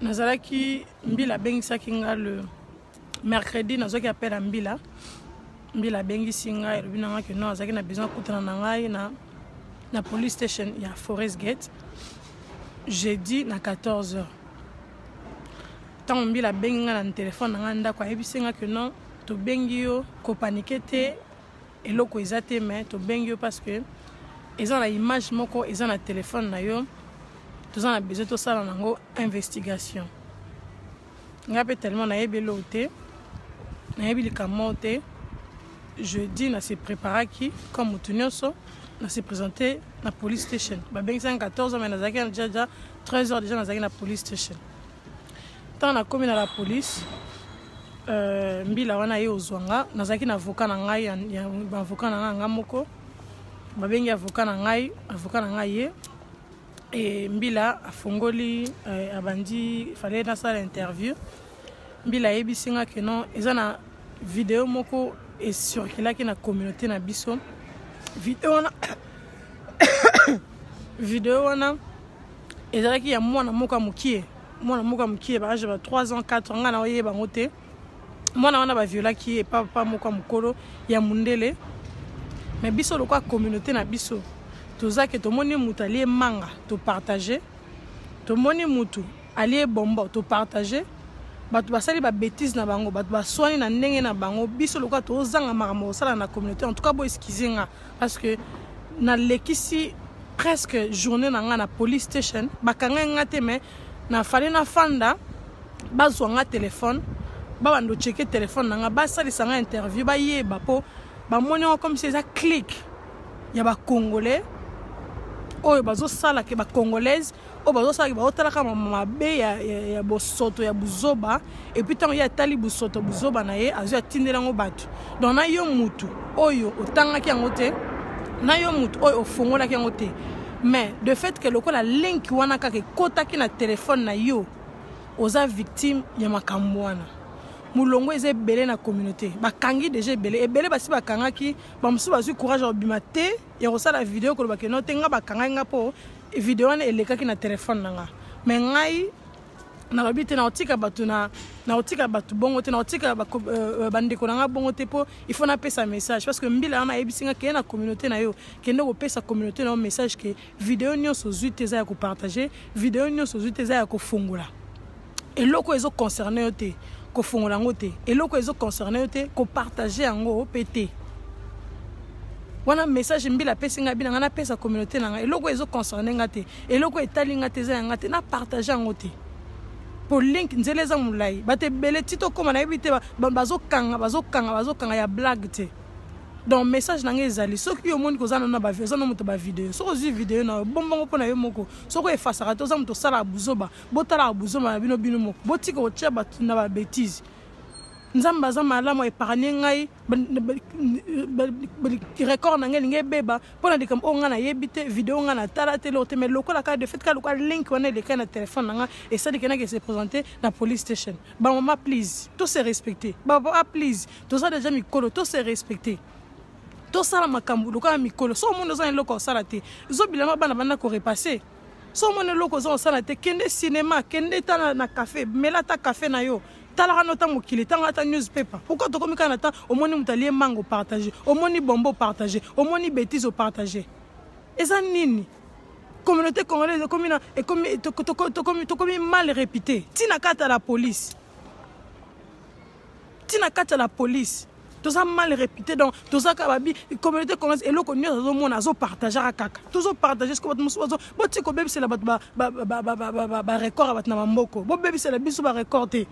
nazalaki mbila abengisaki nga le mercredi nazwaki appel ya mbila mbila abengisi ngai elobi na ngai ke non azalaki na besoin akutana na ngai na, na police station ya forest gate jeudi na 14 heures ntango mbila abengi ngai na telefone na ngai ndako ayebisi ngai ke non tobengi yo kopanike te Eloko eza te mais tobengi yo parce que eza na image moko eza na telephone na yo toza na besoin tosala nango investigation ngai mpe tellement nayebi eloo te nayebi likambo te jeudi na se préparaki comme motu nyonso na se présente na police station babengisaki 14 heures mais nazalaki deja 13 heures deja nazalaki na police station Ntango nakomi na la police euh, mbila wana ye ozwa nga nazalaki na avoka na ngai ya baavoka na ngai nga moko babengi avoka na ngai avoka na ngai ye e mbila afongoli euh, abandi fale nasala interview mbila ayebisi nga ke non eza na video moko esurkilaki na communauté na biso video wana video wana ezalaki ya mwana moko ya mokie mwana moko ya mokie ba age ba 3 ans 4 ans ngai naoyeba yango te mwana wana baviolaki ye epa papa moko ya mokolo ya mondele me biso lokola communauté na biso toza ke tomoni moto alie manga topartage tomoni moto alie bombo topartage bato basali babétise na bango bato baswani na ndenge na bango biso lokola tozanga makambo kosala na communauté en tout cas boeskize nga parce que nalekisi presque journee na nga na police station bakanga nga te mais na fallait na fanda bazwa nga téléphone babanda ocheke téléphone na nga basalisa nga interview bayeba mpo bamoni yango comme si eza clique ya bacongolais oyo bazosala ke bacongolaise oyo bazosalaki bazotalaka mabe ya, ya, ya bosoto ya buzoba epuis ntango ye atali bosoto buzoba na ye azwi atindela yango bato donc na yo mutu oyo otangaki yango te na yo mutu oyo ofongolaki yango te mais de fait ke lokola link wana kaka ekotaki na telefone na yo oza victime ya makambo wana molongo eza ebele na communauté bakangi deja ebele ebele basi bakangaki bamosusu bazwi courage ya kobima te ya kosala video koloba ke no te nga bakangaki nga mpo Video wana elekaki na telephone na nga mais ngai nalobi te nakotika bato na nakotika bato bongo te nakotika euh, euh, bandeko na ngai bongo te mpo il faut napesa message parce que mbila wana ayebisi ngai keye na communauté na yo kende kopesa communauté na yo message ke video nyonso ozwi te eza ya kopartage video nyonso ozwi te eza ya kofungola eloko ezo concerne yo te kofongola yango te eloko ezo concerne yo te kopartage yango mpe te wana message mbila apesi ngai bina ngai napesa communauté na ngai eloko ezo concerne ngai te eloko etali ngai te eza ya ngai te napartage yango te mpo link nzela eza molai bato ebele ti tokóma nayebi te bazokanga bazokanga bazokanga ya blague te donc message na ngai ezali soki yo omoni koza nano oza no moto bavideo soki ozwi video na yo bombongo mpo na yo moko soki efasaka te oza moto osalaka buzoba botalaka buzoma na bino bino moko botika kotia bato na babetise nzambe aza malamu epargne ngai record na ngai elingi ebeba mpo na likambo oyo ngai nayebi te video ngai natala te eloko te mai lokola kaka de fait kaka lokola link wana elekai na telefone na ngai esali ke nake se présente na police station bamama please to se respecte bapapa please toza deja mikolo to se respecte tosala makambo lokola mikolo so omoni oza na eloko ya kosala te zobilama bana banda korepasse so omoni eloko oza kosala te kende cinema kende ta na, na cafe mela ata cafe na yo talaka no ta mokili tanga ata newspaper pourquoi tokomi kaka na temps omoni moto alie mbango partage omoni bombo partage omoni betise opartage eza nini communauté congolaise ekomi na ekomi tokomi mal réputé ntina kata la police ti na kati ya la police toza mal réputé donc toza kaka babi communauté congolaise eloko nyonso azomona azopartagaka kaka tozopartage siko bato mosusu botika kobebisela bato barecord ya bato na bamboko bobebisela biso barecord te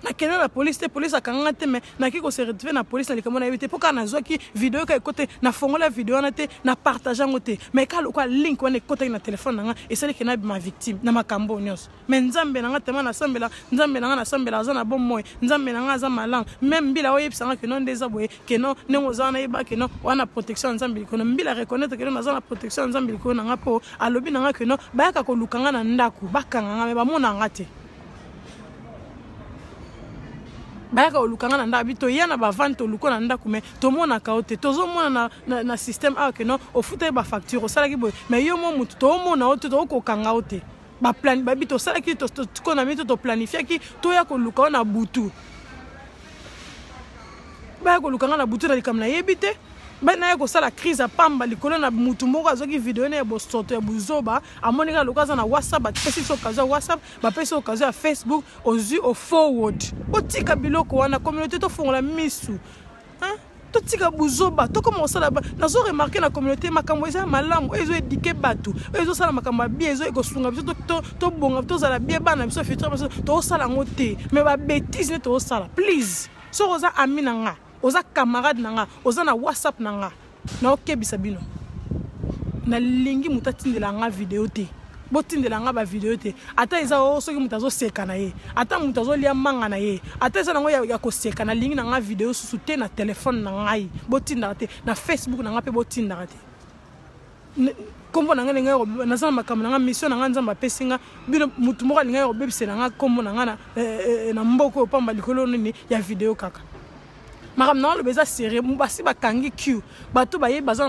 nakende na polise te polise akanganga te mai naki kose retrouve na polise na likambo nayebi te mpo kaka nazwaki video ka ekote nafongola video wana te na partage yango te mai kaka lokola link wana ekotaki na telefone na nga esaliki nabima victime na makambo oyo nyonso Mais nzambe na nga tellement na sambela nzambe na nga na sambela aza na bon moi nzambe na nga aza malang même mbila oye bisanga que non ndeza boye que non nengo za na yeba que non wana protection nzambe likono mbila reconnaître que non aza na protection nzambe likono na nga po alobi na nga que non bayaka ko lukanga na ndaku bakanga nga mais ba mona nga te bayaka oluka nga na ndako bi toya na bavane toluka na ndako mai tomonaka yo te tozomona na, na, na système awa keno ofutaki bafacture osalaki boye mai yo mwa motu toomona yo te tookokanga yo te baplan babi tosalaki tokona mito toplanifiaki toya koluka wana butu baya koluka nga na butu na likambo nayebi te naya kosala crise ya pamba likolo na motu moko azwaki video na ya bosoto ya buzoba amoni kaka lokola aza na whatsapp bapesi biso okazo ya whatsapp bapesi okazo ya facebook ozwi ofoward otika biloko wana communauté tofongola misu Hein? totika buzoba tokoma kosala nazo remarke na communauté makambo eza malamu oyo ezo edike bato oyo ezosala makambo ya bie ezo ekosunga biso tobonga tozala bie bana biso futur biso tozosala yango te mais babétise nde tozosala please soki oza ami na nga oza camarade na nga oza na whatsapp na nga Nao kebisa bino. Na lingi mutu atindela nga video te. Botindela nga ba video te. Ata eza o oh, soki mutu azo seka na ye. Ata mutu azo lia manga na ye. Ata eza nango ya, ya koseka na lingi na nga video susu te na telefone na ngai. Botindaka te. Na Facebook na nga pe botindaka te. nkombo na ngai ndenge naza na makambo na ngai mission na ngai nzambe apesi ngai bino motu moko alingai kobebisela ngai nkombo na ngai na eh, eh, eh, mboka oyo mpamba likolo nini ya video kaka makambo na oloba eza serieux basi bakangi q bato bayebi baza na